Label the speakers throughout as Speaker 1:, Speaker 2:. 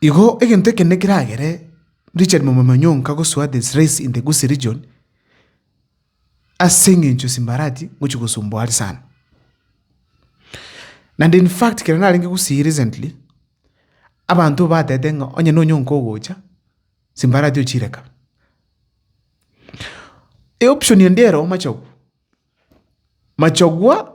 Speaker 1: Igo egento ekenene keragere Richard momama nyonka gosoa the Srace in the Gusii region ase eng'encho simbarati ngochia gosumboa are sana. Naende in fact ekero narenge Gusii recently, abanto batebete ng'a onye nonya onka ogocha, simbarati ochireka. Eoptioni ende ero machogu, machagua.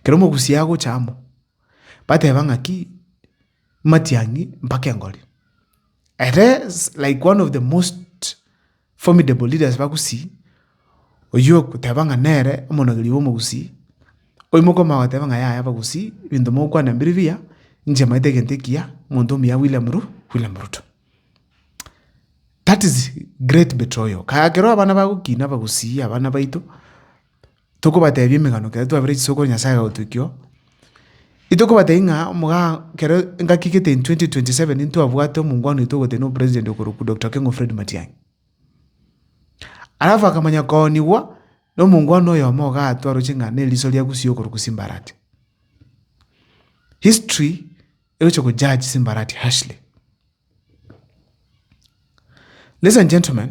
Speaker 1: Ekero omogusi agocha amo, bateba ng'aki, matiang'i mpaka engori. Ere like one of the most formidable leaders bagusii, oyio ogoteba ng'a nere omonogeri bw'omogusii, oimoke omanye goteba ng'a yaya abagusii, ebinto mogokwana mbiri mbuya, inche maete egento ekiya, omonto omuya William Ru, William Ruto. That is great betroyal, ekero abana bagokina abagusii abana baito. tokobatebia emegano ekero twabeire chisokoro Nyasaye agagotukia, itokobatebia ng'a omoga kero engaki egete in twenty twenty seven ntwabwate omongwana oito ogotenena na opresident okorokwa Doctor Okengo Fred Matiang'i. Alafu akamanya koonigwa na omongwana oyomo igaa atwe aroche ng'a na eriso ria gusii okorokwa Simbarati. History egochia go judge Simbarati harshly. Ladies and gentlemen,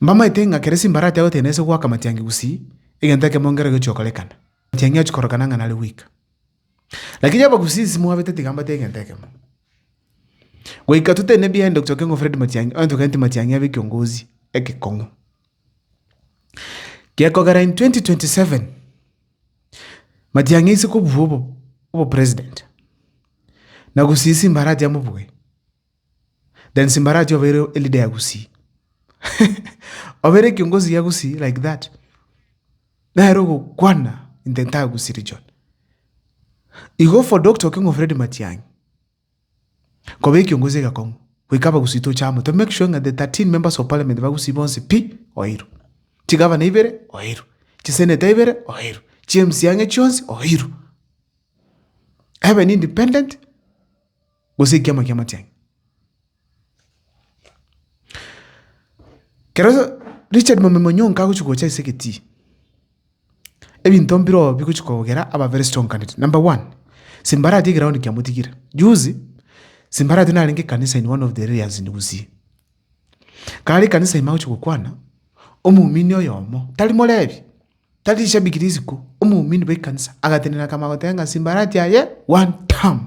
Speaker 1: Mbamaete ng'a kera simbarati agotenena na ase goaka amatiangi gusii, egento ekemo nkero gechi'okorekana, amatiangi achia korokana ng'a nare gwika. Lakini yaba gusii simwabete tiga mbate egento ekemo. Goika totenene ebiaye ande gocha keng'u Fred Matiangi, onye togenti Matiangi abe ekiongozi ekekong'u. Gekogera in twenty twenty seven, Matiangi aise kobua obo obopresident, na gusii simbarati amobuge. Then Simbarati obeire e leader ya Gusii. Obeire kiongozi ya Gusii like that. Nere ogokwana in the entire Gusii region. Igo for Doctor Okengo Fred Matiang'i, koba ekiongozi egekong'u, goika Abagusii toche amo to make sure ng'a the 13 members of parliament ba Gusii bonsi pi, oeirwe. Chigavana ibere, oeirwe. Chisenator ibere, oeirwe. Chi MCA ang'e chionsi, oeirwe. Ebe nindependent. gose ekiama ki'amatianyi. Ekero Richard Mwambembe Onyonka agochia gocha ase egetii, ebinto mbirobio bigochia kogera aba very strong candidate. Number one, simba arati egeroundi kiamotigire. Juzi, simba arati narenge ekanisa in one of the areas in Gusii. Kare ekanisa ime agochia gokwana, omomini oyomo, tari morebi. Tari shabiki risiko, omoumini bw'ekanisa agatenena kama goteba ng'a simbarati aye one term.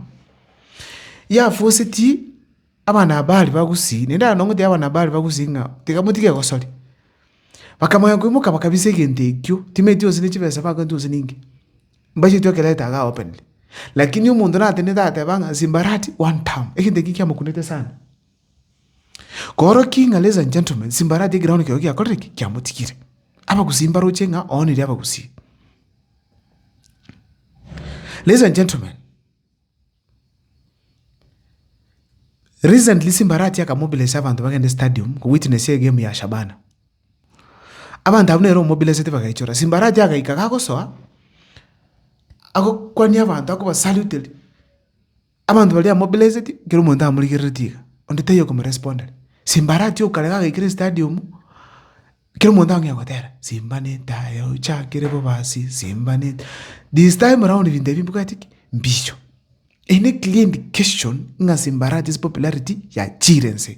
Speaker 1: Yafosetie abana aba baria ba gusii, naende aye nonye gotebia abana aba baria ba gusii ng'a tiga motige gosoria. Bakamanya koimoka bakabisa egento ekio, timanyeti gose ne chibesa bagwenerete gose ninki, mbacheti okereta iga openire. Lakini omonto natenenete agateba ng'a simbarati one term, egento ekio kiamokunete sana. Koorokia ng'a ladies and gentlemen, simbaradia ekero bono ekero giakorire ki? Giamotigire. Abagusii mbaroche ng'a oonire abagusii. Ladies and gentlemen, recently simbaratia akamobilise abanto bagende stadium kowitnessia egemu ya Shabana. Abanto abwo nere omobilesete bagaichora, simbaratia agaika gagosoa, agokwania abanto akobasalute Abanto baria amobleseti, kera omonto amorigereretie iga, onde taiyo okomorespondera. Simba aratie okarega agaikera estadium, kera omonto ang'ea gotera, Simba netayo ochakire bobasi, Simba neta. This time round ebinto ebi mbwati ki? Mbicho. Eye ne clear indication ng'a Simba arache ase popularity yachiire nse.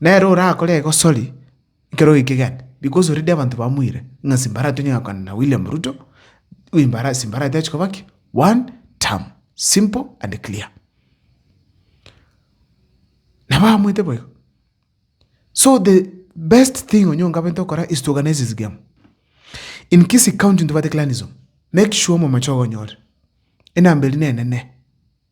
Speaker 1: Nere orakore egosori ekero oikegete because already abanto bamoire ng'a simbara tonyare gokwana na William Ruto, wimbara simbara tachia koba ki? One term. Simple and clear. Nabo amoete boigo. So the best thing Onyonga abwenerete gokora is to organise his game. In Kisii county ntobwate clanism, make sure omomocha ogo onyore. Enamba eria nenene.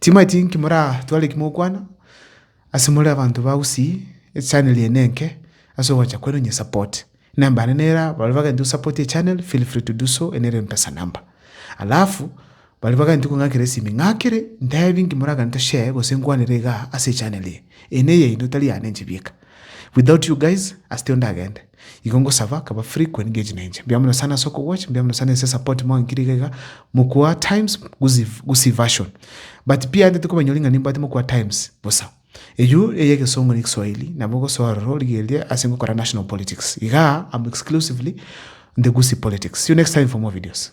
Speaker 1: Timanyeti inki moratware eki mogokwana, ase more abanto ba Gusii, echannel eye nenke ase ogoancha kwaino onye support. Enamba yane nera baria bagento to support echannel feel free to do so eye nere empesa number. Alafu baria bagento kong'akera esimi ng'akere ntebi inki moragane to share gose nkwanere igaa ase echannel eye. Eye neyaino tari yane inche bieka. Without you guys, ase tio ndagende. Igo ngosaba akaba frequent ngeche na inche. Mbuya mono sana ase okogwacha, mbuya mono sana ase support mwankirie iga mokwa times gusi gusi version. But pi ante tikobanyori ng'a nimbwate mokwa times bosa. Eyio eye egesongo ne kiswahili nabo ogosoa ororo origereria ase ngokora national politics. Igaa am exclusively in the gusi politics. See you next time for more videos.